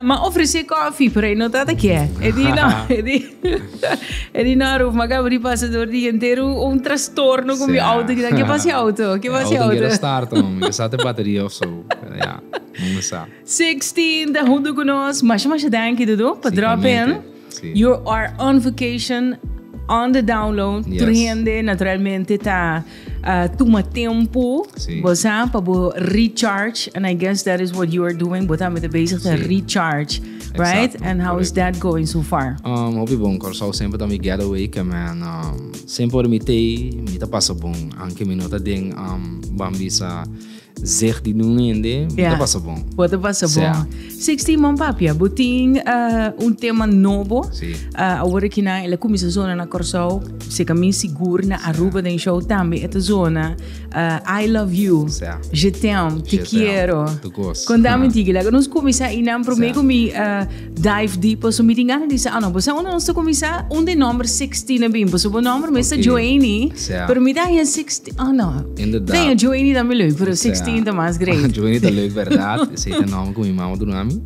Ma ofrece coffee pero e no ta ta kier. E di no, e di, e di no Ruf, ma gabri pasa door dia entero un trastorno con mi auto. Ki ta, ke pasa e auto? Ke pasa e auto? Auto no quiere starta mami, kisa ta e bateria of so. Pero ya, mami sa. Sixteen ta hunto cu nos. Masha masha danki Dodo pa drop in. You are on vacation, on the download, tur hende naturalmente ta tuma tempu, bo sa, pa bo recharge, and I guess that is what you are doing, bo tambe ta bezig den recharge, right? And how is that going so far? Hopi bon, Curaçao semper ta mi getaway, ke men semper ora mi t'ei, mi ta pasa bon, anke mi no ta den bambisa. Zeg di nun hende, bo ta pasa bon. Bo ta pasa bon. Sixteen man papia, bo tin un tema nobo. Awor aki nan el a cuminsa zona na Corsou, si ta mi sigur na Aruba den show tambe e ta zona. I love you, je t'aime, te quiero. Con ta minti aki la cu nos cuminsa y nan prome cu mi. Dive deep paso mi tin gana di sa no paso uno nos ta comienza un de nombre 16 a bin paso bo nombre me está Joanie pero mi daña 16 oh no daña Joanie da mi leuk pero 16 ta más great Joanie ta leuk verdad ese es el nombre que mi mamá duna mi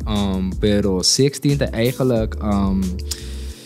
pero 16 ta eigenlijk um,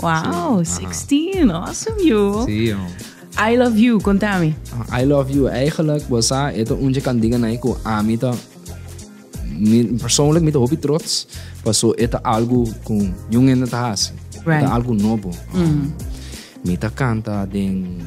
Wow, 16. Awesome, you. Sí, oh. I love you, contame. I love you. Eigenlijk, bosa, eto unje kan diga nai ku ami ta persoonlijk mi ta hopi trots paso eta algo kun yung ende ta hasi. Right. Eta algo nobo. Mm. Um, mi ta canta den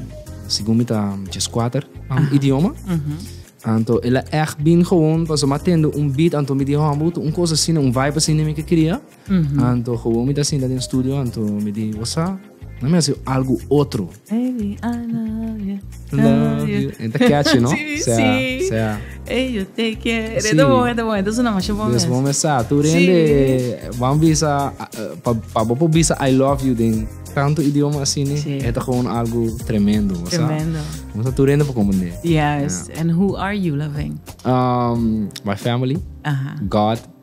según mi ta jes kwater um, idioma. Mm -hmm. Anto ela echt bin gewoon paso ma tende un beat anto mi di oh, un cosa sin un vibe sin mi ke cria. Mm-hmm. Anto gewoon mi ta sinta den studio anto mi di osa na mi hace algo otro. Baby, I love you. Love you. En ta catchy, no? sí, sea, sí. Sea. Hey, yo te quiero. Sí. De momento, momento, es una macho bom. Des bom esa. Tu rende, sí. van visa, eh, pa, pa bopo visa I love you den tanto idioma así, ¿no? Sí. Esto es algo tremendo, ¿no? Tremendo. ¿No? Tú rende por comprender. Yes. Yeah. And who are you loving? Um, my family. Uh -huh. God.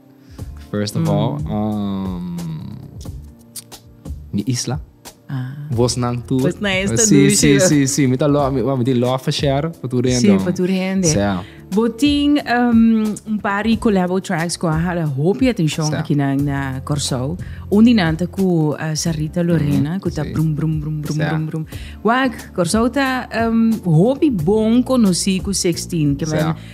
First of all, um, mi isla. Ah. Vos nan tu. Vos nan esta sí, dushi. Sí, sí, sí. Mi ta lo, mi, mi ti lo for share for tu rende. Sí, for tu rende. Sí. Botin um, un par de collabo tracks ku ha la hopi atención sí. aquí na na Corsou. Un dinanta ku uh, Sarita Lorena mm, ku ta sí. brum brum brum brum sí. brum brum. Wak Corsou ta um, hopi bon conocí ku 16 que sí.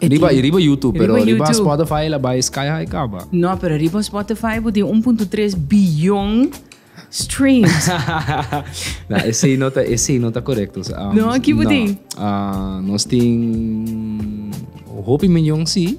E Riba, tin- y riba YouTube, pero Riba riba, YouTube. Spotify la bay sky high caba. No, pero riba Spotify bo tin 1.3 billion streams. Na, ese no ta, ese no ta correcto. Um, No, kibo tin? Ah, nos tin hopi miljoen sí,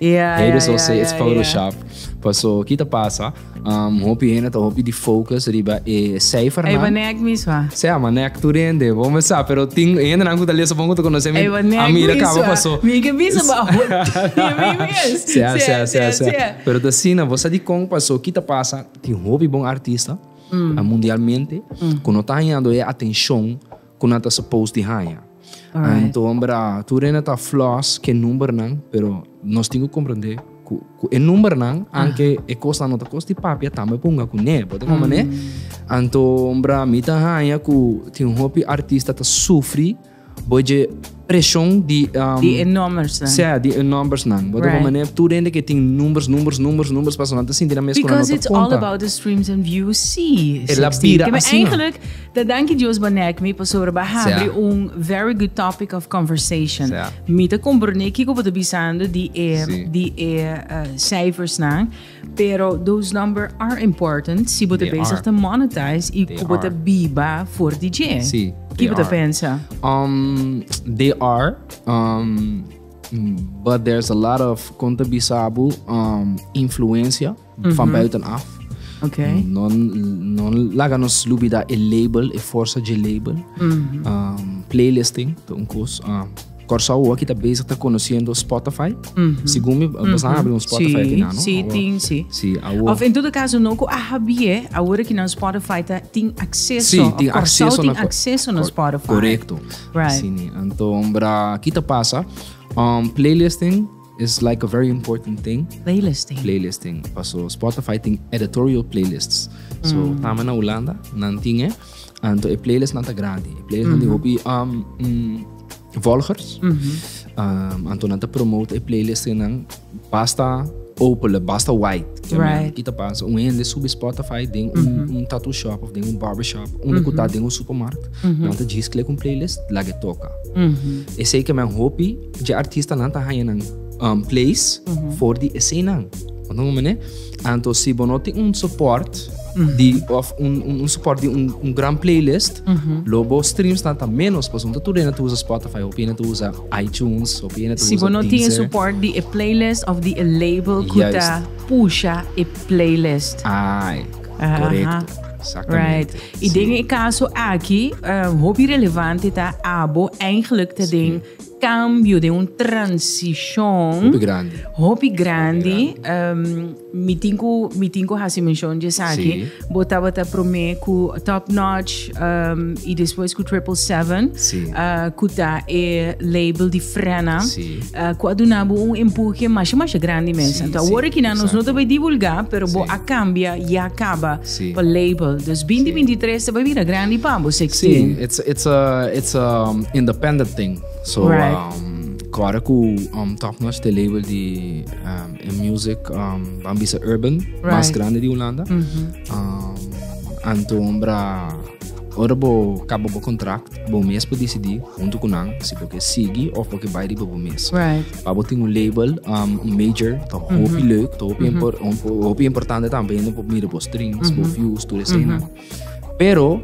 Yeah, Hey, yeah, dus yeah, also yeah, it's Photoshop. Yeah. Paso, kita pasa, um, hopi hena ta hopi di focus riba e cijfer Ey, banek miswa. Se ama nek tu rende, bo me sa, pero ting hena nan kuta leso bon kuta konoce mi. Ey, banek miswa. Amira kaba paso. Mi ke bisa ba hot. Se a, se a, se a, se a. Pero ta sina, bo sa di kong paso, kita pasa, tin hopi bon artista, mm. mundialmente, mm. kono ta hanyando e atencion, cu nan ta supposed di haña. Anto, bra, tur ena ta flaws ke numbernan, pero nos tin cu comprende cu, cu e numbernan, anke e cosnan no ta cos di papia, tambe por hunga cu ne, bo ta comprende? Mm -hmm. Anto, bra, mi ta haña cu tin un hopi artista ta sufri, bo dje preshon di e nòmbersnan. Sea, di e nòmbersnan. Bo ta bon manera tur hende ke tin numbers, numbers, numbers, numbers pasobra nan ta sinti nan mes ku nan no ta konta. Because it's all about the streams and views, sí. E la bira asina. Kibè eingelik ta danki Dios banek mi pasobra ba habri un very good topic of conversation. Mi ta komprondé kiko bo ta bisando di e, di e seifersnan. Pero those number are important si bo ta bezig ta monetize y cu bo ta biba for di dje. Ki bo ta pensa? They are, but there's a lot of, con ta bisa bo, influencia van buiten af. No laga nos lubida e label, e forsa dje label. Playlisting ta un cos. Kòrsou awoa ki ta bezig ta konosendo Spotify. Segun mi bo sa habri un Spotify aki nan, no? Sí, Awo- tin, sí. Sí, awo- Of en todo kaso no ku a habié awor aki nan Spotify ta tin akseso. Sí, tin Kòrsou akseso tin na- akseso na Kor- Spotify. Korekto. Right. Asina. Anto, bra, ki ta pasa? Um, playlisting. Is like a very important thing. Playlisting. Playlisting paso Spotify tin editorial playlists. So mm. tama na Holanda nan tin e. Anto e playlist nan ta grandi. E playlist mm -hmm. nan hopi um, mm, volgers. Mm -hmm. um, anto nan ta promote e playlist nan basta opele, basta white. Right. Kita pasa un hende subi Spotify den mm -hmm. un, un tattoo shop of den un barber shop, un mm -hmm. den un supermarkt. Mm -hmm. Nan ta gis klik un playlist, lage toka. Mm -hmm. E sei ke men hopi Dje artistanan ta haña nan place for di esenan. Bo ta hoor manera? Anto si bo no tin un support di of un support di un gran playlist lo bo streamsnan ta menos pasobra no ta tur hende ta usa Spotify hopi hende ta usa iTunes hopi hende ta usa Deezer. Si bo no tin e support di e playlist of di e label ku ta pusha e playlist. Ai korekto. Exactamente. Right. I den e kaso aki hopi relevante ta abo eigenlijk ta den. cambio, den un transicion hopi grandi, mi tin cu mi tin cu haci mencion dje esaki, bo tabata prome cu Top Notch y despues cu Triple Seven cu ta e label di Frenna cu a duna bo un empuje masha masha grandi mes, awor aki nan nos no ta bay divulga pero bo a cambia ya caba. pa label dus binti binti tres ta bai bira grandi pa bo si eksten. Si, it's it's a it's a independent thing. So right. um, kora ku um, Top Notch te label di um, in music um, van bisa urban, right. mas grande di Holanda. Mm -hmm. um, anto ombra ora bo kaba bo contract, bo mes po decidi junto ku nan si bo ke sigi of bo ke bai riba bo mes. Right. Pa bo tin un label, um, un major, ta hopi mm -hmm. leuk, ta hopi, mm -hmm. impor, hopi importante también, no pop mira bo streams, mm -hmm. bo mhm. views, tu escena. Mm -hmm. Pero,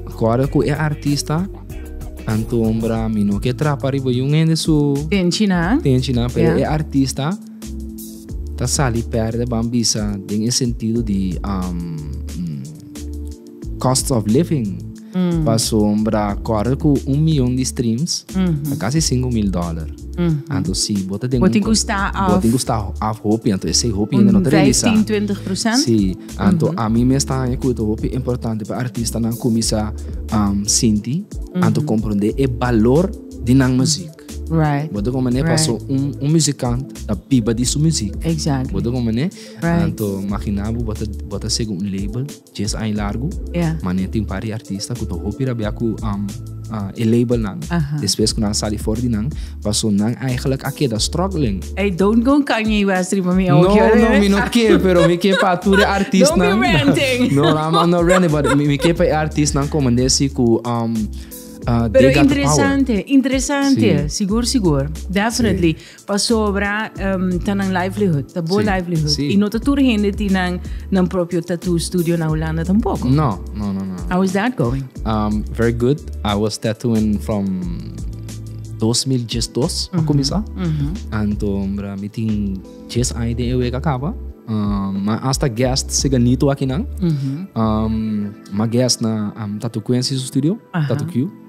acorda ku e artista, anto ombra mi no ke trapa riba yung hende su... Ten china. Ten china, pero yeah. e artista ta sali perde bambisa den e sentido di... Um, cost of living pasobra kòrda ku un miyon di streams ta kasi sinku mil dòler anto si bo ta den un bo tin ku sta af bo tin ku sta af hopi anto esei hopi ainda no ta realisá un vijftin twintig prosènt si anto ami mes ta haña ku ta hopi importante pa artistanan kuminsá sinti anto komprendé e balor di nan muzik right bo ta kon manera paso un muzikant ta biba di su muzik exactly bo ta kon manera anto makiná bo bo ta bo ta sigi un label. Djes aña largu, Mané tin par di artista ku ta hopi rabia ku e labelnan. Despues ku nan sali for di nan, paso nan eigenlijk a keda struggling. Ey, don't go Kanye West riba mi oki. No, no, mi no ke, pero mi ke pa tur e artistnan. Don't be ranting. No, no, I'm not ranting, but mi ke pa e artistnan ku mende si ku they got the power. Pero interesante, interesante. Sigur, sigur. Definitely. Pasobra ta nan livelihood, ta bo livelihood. I no ta tur hende tin nan, nan propio tattoo studio na Holanda tampoco. No, no, no, no. How is that going? Um, very good. I was tattooing from 2012 para começar. Anto, bra, mi tin 10 años de ewe acaba. Um, maar hasta guest se ganito aqui nan. Um, ma guest na um, Tattoo Quincy studio, Tattoo Q.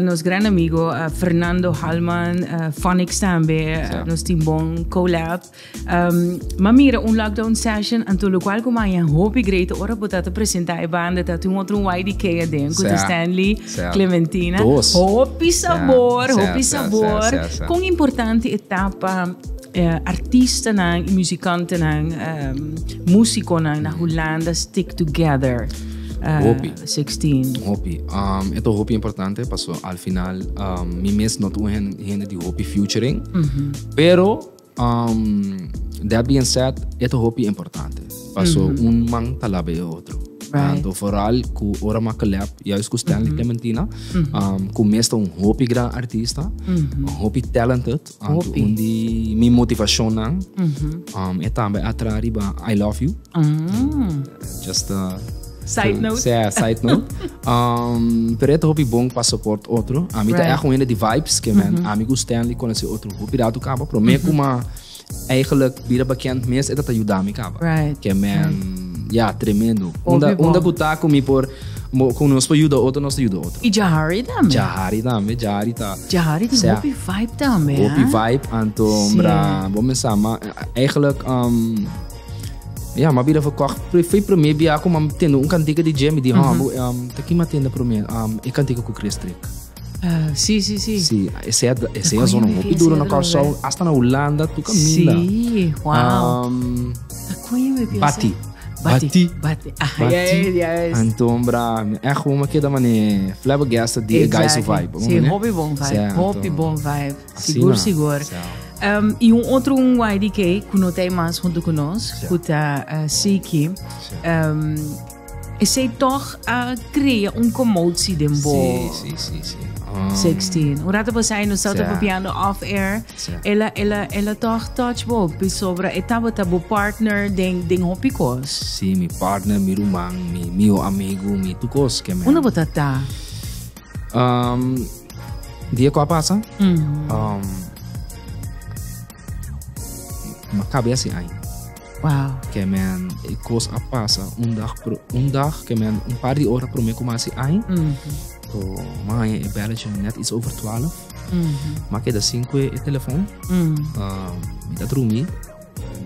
Nos gran amigo Fernando Halman, Phonics tambe, nos tin bon collab. Ma mira, un lockdown session, anto lokual ku maya hopi great ora bo ta ta presenta e banda, ta tin otro un YDK aden, ku ta Stanley, Clementina. Hopi sabor, hopi sabor. Kon importante e ta pa artistanan i musikantenan, musikonan na Hulanda stick together? 16. Hopi. Um, eto hopi importante, paso al final um, mi mes no tu hen, hende di hopi futuring. Mm -hmm. Pero, um, that being said, eto hopi importante. Paso mm -hmm. un man talabe e otro. Right. And vooral ku ora makelep, juist ku Stanley mm -hmm. Clementina, mm -hmm. um, ku mesta un hopi gran artista, mm -hmm. hopi talented, Hopi. Un di mi motivacionnan um, e tambe a tra riba I love you. Just uh, Side note. Sea, side note. um, pero het hopi bon pa support otro. A mi ta Right. echt een die vibes que men amigo Stanley kon se otro hopi rato kaba. Pero me kuma eigenlijk bira bekend mes eta ta ayuda mi kaba. Right, Que men ja tremendo. Unda Hopi bon. unda kutako mi por Bo con nos por yuda otro, nos ta yuda otro. Y Jahari tambe. Jahari tambe, Jahari ta. Jahari tin hopi vibe tambe, hè? Hopi vibe, anto mra bo mensa, ma eigenlijk um ja, ma bira verkocht. Foi promé bia ku mam tende un kantika di Jimmy di um, taki ma tende promé um e kantika ku Chris Trick. Sí, sí, sí. Sí, esei a, esei a zona hopi duro na Curaçao, hasta na Holanda, tu caminda. Sí, wow. Um, Bati. Bati. Bati. Ah, Bati. Ja, ja, ja. Anton bra, echt hoe me queda mane flabbergasted die exactly. guys of vibe. Sí, hopi bon vibe, hopi bon vibe. Sigur, sigur. Um, y un otro un YDK, que no tem más junto con nos, que está uh, Siki. Um, Esei toch a crea un commotie den bo. Sí, sí, sí, sí. Um, 16. Un rato pasai no estaba yeah. papiando off air. Yeah. Ela, ela, ela toch touch bo. Pisobra etaba tabo partner den, den hopi cos. Sí, mi partner, mi ruman, mi, mi amigo, mi tu cos que me. Una botata. Um, dia qua pasa. Mm -hmm. um, ma cabe assim ainda. Wow. Que men e cos a pasa un dag, un dag que men un par de hora prome como así ay. Mm -hmm. To man e belletje net iets over 12. Mm -hmm. Maar dat zien we e telefoon. Mm -hmm. uh, dat rumi.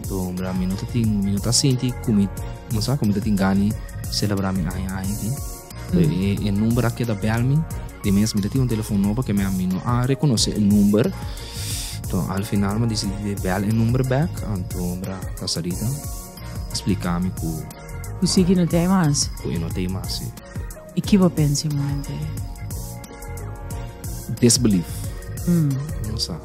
To bra minuto tin minuto sinti kumi mosa kumi dat tin gani celebra mi ay ay. E number a keda bel mi. Di mes mi ta tin un telefon nobo ke mi ami no a rekonosé e number. To al final mi disidi di bel e number bek. Anto mi a ta salida splika mi ku. Ku Siki no t'ei mas. Ku e no t'ei mas, si. I ki bo pensa e momento ei? Disbelief. Mi no sa.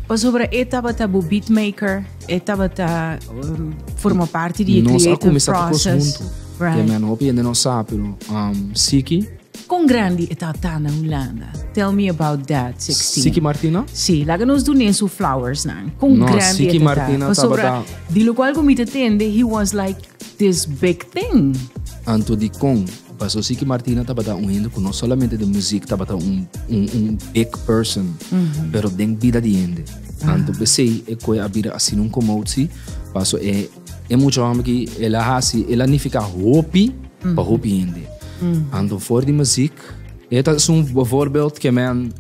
Pasobra e tabata bo beatmaker, e tabata forma parti di e creative process, right? Kon grandi e ta ta na Hulanda? Tell me about that, Sixteen. Sí, laga nos dun'é su flowersnan. Kon grandi e ta ta? Pasobra di lokual ku mi ta tende he was like this big thing. Paso si ki Martina tabata un hende ku no solamente den muzik tabata un un big person, pero den bida di hende. Tantu p'esei e koe a bira asina un komotsi, paso e e mucha hòmber ki el a hasi, el a nifiká hopi pa hopi hende. Anto for di muzik, e ta esun bòvòrbild ke men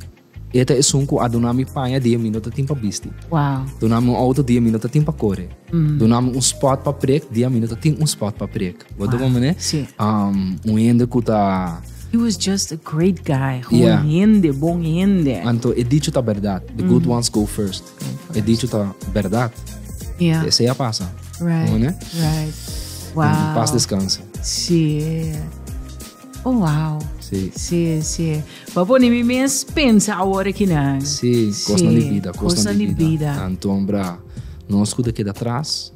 E ta esun ku a duna mi paña di e mi no ta tin pa bisti. Wow. Duna mi un outo di e mi no ta tin pa kore. Mm. Duna mi un spot pa prek di a mi no ta tin un spot pa prek. Bo ta wow. mane? Sí. Um, un hende ku ta He was just a great guy. Gewoon yeah. hende, bon hende. Anto, e dicho ta verdad. The mm. good ones go first. go first. E dicho ta verdad. Yeah. Ese ya pasa. Right. Gewoon, right. Wow. Pas descanse. Sí. Oh, wow. Sí. Sí, sí. Pa pone mi mes pensa awor aki nan. Sí, kosnan di bida, kosnan di bida. Anton bra, nos ku ta keda tras.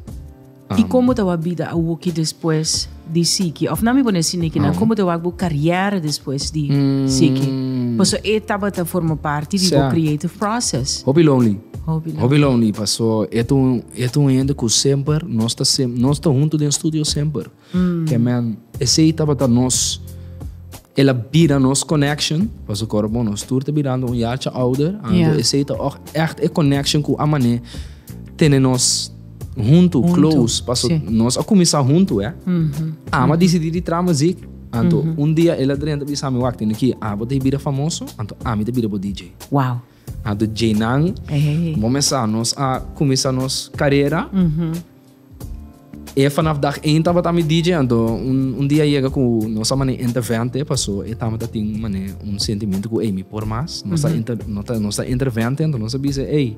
I komo ta wak bida awoki despues di Siki? Òf nan mi pone asina aki nan, komo ta wak bo karièra despues di Siki? Paso e tabata forma parti di bo creative process. Hopi lonely. Hopi lonely paso e ta un hende ku semper nos ta huntu den studio semper. Amen. Esey tabata nos, el a bira nos connection, paso kor bon nos tur ta birando un yacha ouder, anto esey ta oj echt e connection cu a mane tene nos hunto, close, paso nos a cuminsa hunto eh. Amo a dicidi di traha muzik, anto un dia el a drenta bisa mi wak tin aki, abo ta bira famoso, anto ami ta bira bo DJ. Wow. a do djeinan momesa nos a cuminsa nos carera e vanaf dag een tabata mi DJ anto un dia yega cu nos a mane intervente paso e tabata tin mane un sentimiento cu ey mi por mas nos ta inter nos ta intervente anto nos a bisa ey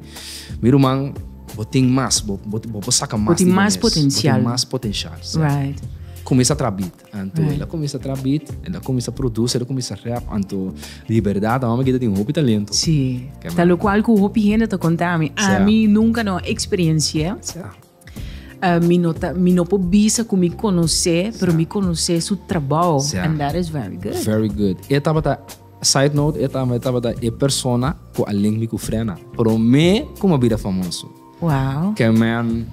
mi ruman bo tin mas bo bo por saca mas di bo mes bo tin mas potencial right cuminsa tra beat. Anto el a comienza tra beat, el a comienza produce, el a comienza rap. Anto di verdad, a mama gita tin hopi talento. Sí. Ta lo cual cu hopi hende ta conta a mi. A mi nunca no experiencia. mi no ta, mi no por bisa cu mi conoce, pero mi conoce su trabao. And that is very good. Very good. E tabata, side note, e tabata e persona cu a link mi cu Frena. Prome cu mi a bira famoso. Wow. Ken man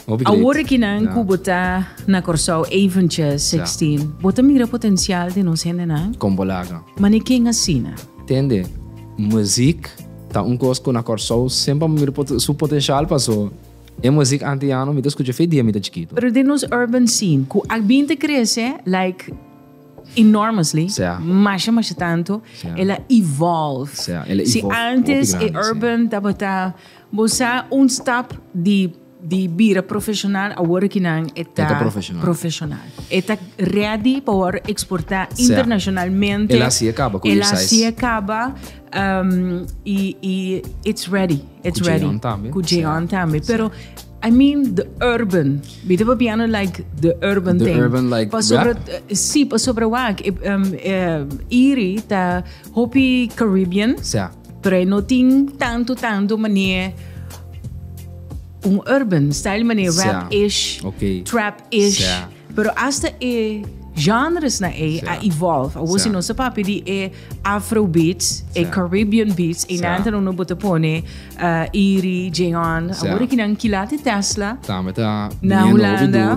hopi great. Awor ekinan ku bo ta na Kòrsou eventjes Sa. sixteen bo ta mira potensial den nos hendenan? Kon bo laga? Mane ken asina? Tende, muzik ta un kos ku na Kòrsou semper amo mira pot su potensial paso e muzik antiano mi ta skucha fe dia mi ta chikitu. Pero den nos urban scene ku a bin ta krese like enormously Sa. masha masha tantu Sa. el a evolve. Sa, el a Si evolve hopi antes e grandi, si. urban tabata. Bo sa un stap di di bira profesional awor aki nan e ta Eta profesional. profesional. E ta ready pa wòrdu eksportá Sea, internacionalmente. el hasié kaba ku El J-Size. hasié kaba um, i i it's ready, it's Ku ready. J-On tambe. Ku Sea. J-On tambe. Sea. Pero I mean the urban. Mi ta papiando like the urban The thing. urban, like, Pasobra rap. eh, sí, pasobra wak eh, um, eh, Iri ta hopi Caribbean. Sea. Pre no tin tanto tanto manera un urban style manera rap ish, okay. trap ish. Yeah. Pero hasta e genres na e yeah. a evolve. Awo yeah. si no se papi di e afro beats, yeah. e Caribbean beats, e yeah. nanta no bote pone uh, Iri, Jeon. Yeah. Awo ki nan kilati Tesla. Tambe ta na Holanda.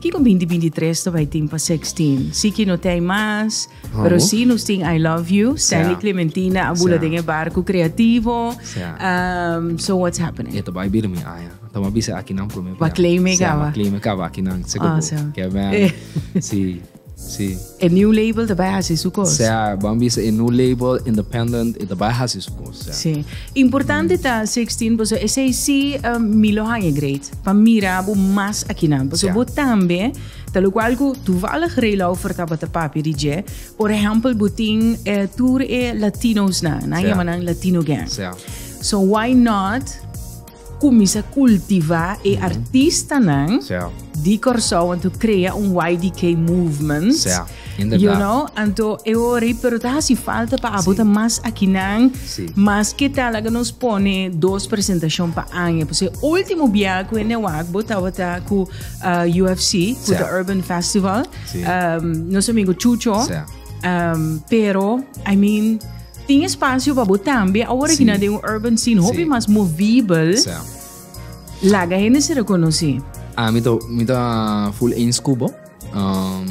Kiko binti binti tres ta bai tin pa sexting? Si ki no ta hay mas, pero si nos tin I love you, Stanley Clementina a bula den e barco creativo, so what's happening? E ta bai bira mi aya. Ta ma bisa aki nan prome. Ba claim e caba. Ba claim e caba aki nan. Awesome. Ke ben. Si. Sí. E New Label ta bai hasi su kos. Sea, ban bisa e New Label Independent e ta bai hasi su kos. Sea. Sí. Importante mm. ta 16 boso e sei si uh, Milo Hanje Great pa mira bo mas akinan. Boso sea. bo tambe ta lo cual cu toevallig Reilau vertaba te papi di je. Por ejemplo, butin eh, tour e Latinos na, na llamanan Latino Gang. So why not Cuminsa cultiva e artistanan di Corsou anto crea un YDK movement. You know? Anto e ori, pero ta hasi falta pa abo ta mas akinan. Mas ke ta laga nos pone dos presentacion pa aña. P'esei ultimo bia cu e Newaak bo tabata cu UFC, cu The Urban Festival. Nos amigo Chucho. Pero, I mean. Tin espacio pa bo tambe awor aki na den un urban scene hopi mas movibel. Laga hende si reconoci. Ah, mi ta, mi ta full eens cu bo. Um,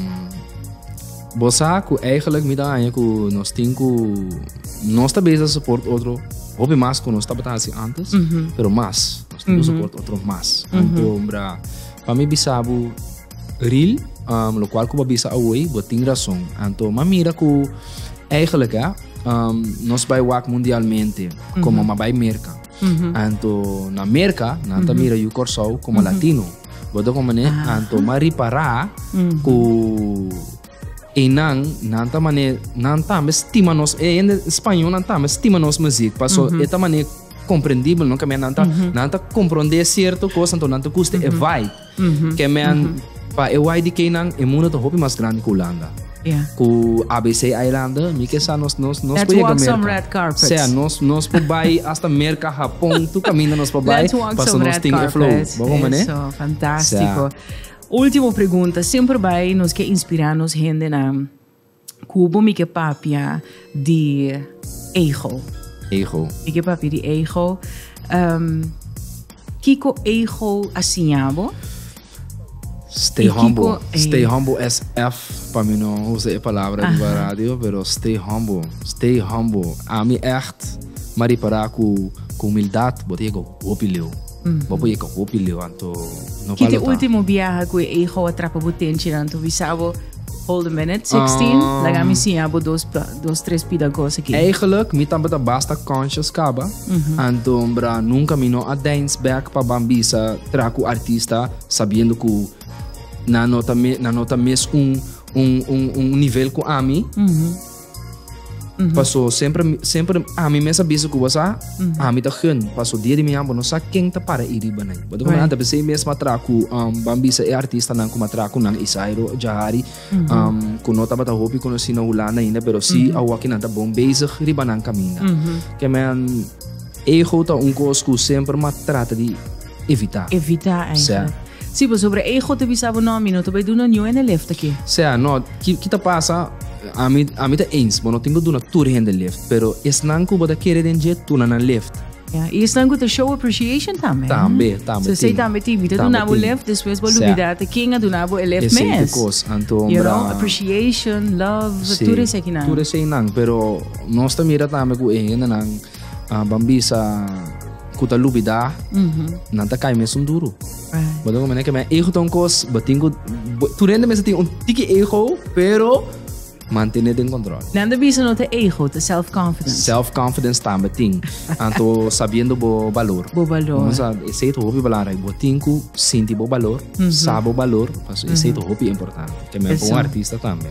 bo sa cu eigenlijk mi ta haña cu nos tin cu nos ta bezig support otro hopi mas cu nos tabata haci antes, pero mas. Nos tin cu support otro mas. Anto, bra, pa mi bisabu Ril, Um, lokual ku bo a bisa awoy, bo tin rason. Anto m'a mira ku eigenlijk eh, um, nos bai wak mundialmente komo m'a bai Merka. Anto na Merka nan ta mira yu Kòrsou komo Latino. Bo ta hopi mané, anto m'a ripará ku einan nan ta mané nan tambe stima nos e hende spañol nan tambe stima nos muzik paso e ta mané komprendibel no, kemia nan ta nan ta komprondé sierto kos anto nan ta gusta e vibe. Ken men, pa e YDKnan, e mundo ta hopi mas grandi ku Hulanda. Ku ABC Eilanden, mi ke sa nos nos nos por yega Merka. Sea, nos nos por bai hasta Merka, Hapon, tur kaminda nos por bai paso nos tin e flow. Bo hopi mane? Eso, fantástiko. Último pregunta, semper bai nos ke inspirá nos hendenan Cu bo mi ke papia di ego? Ego. Mi ke papia di ego. Um, kiko ego a siña bo? Stay humble. Eh. Stay humble SF. Pa mi no usa e palabra uh -huh. radio, pero stay humble. Stay humble. A mi echt, maar reparar cu, cu humildad, bo te go, hopi leo. Bo por yeka hopi levanto. No Kiti balota. ultimo biaha ku e hijo a trapa bo tenchi nan to bisa bo hold a minute 16 Ah. laga mi siña bo dos pla- dos tres pida kos aki. Eigenlijk, mi tambata basta conscious kaba. Anto bra nunca mi no a dance back pa ban bisa tra cu artista sabiendo cu na nota me na nota mes un un un un nivel cu ami. Mm -hmm. Paso sempre, sempre a mi mesa bisa ku wasa, mm -hmm. a mi ta hun, paso dia di mi ambo no sa ken ta para iri ba nai. Bato right. anta bese mesma tra ku um, ban bisa e artista nan kuma tra ku nan Isairo Jahari, mm -hmm. um, ku no tabata hopi konosi na Hulanda ainda, pero si mm -hmm. awa ki nan ta bon bezig riba nan kamina. Mm -hmm. Ke men, ego ta un kos ku sempre ma trata di evitá. Evitá ei. Sea. Sí, pasobra ei go ta bisa bo, no, mi no ta bai duna niun hende lift aki. Sea, no, ki, ki ta pasa, ami, ami ta eens, bo no tin ku duna tur hende lift, pero esnan ku bo ta kere den dje, duna nan lift. Ya, i esnan ku ta show appreciation tambe. Tambe, tambe So, esei tin. tambe tin. Mi ta Tambe duna bo tin. lift, despues bo Sea. lubida ta ken a duna bo e lift Esei te mes. kos, anto, You know, mira. appreciation, love, Sí, tur eseikinan. tur eseinan, pero nos ta mira tambe ku e hendenan Ah, ban bisa cu ta lubida, nan ta cai mesun duro. Bo den meneer, que mijn ego ta un kos, bo tin cu, bo- tu rende mensen tin un tiki ego, pero mantener den control. Nan de bisa no te ego, te self-confidence. Self-confidence tambe tin. Anto sabiendo bo valor. Bo valor. Vamos a, ese es hopi belangrijk. Bo tin cu sinti bo valor, sa bo valor, pas ese es hopi importante. Que men pa Eso. un artista tambe.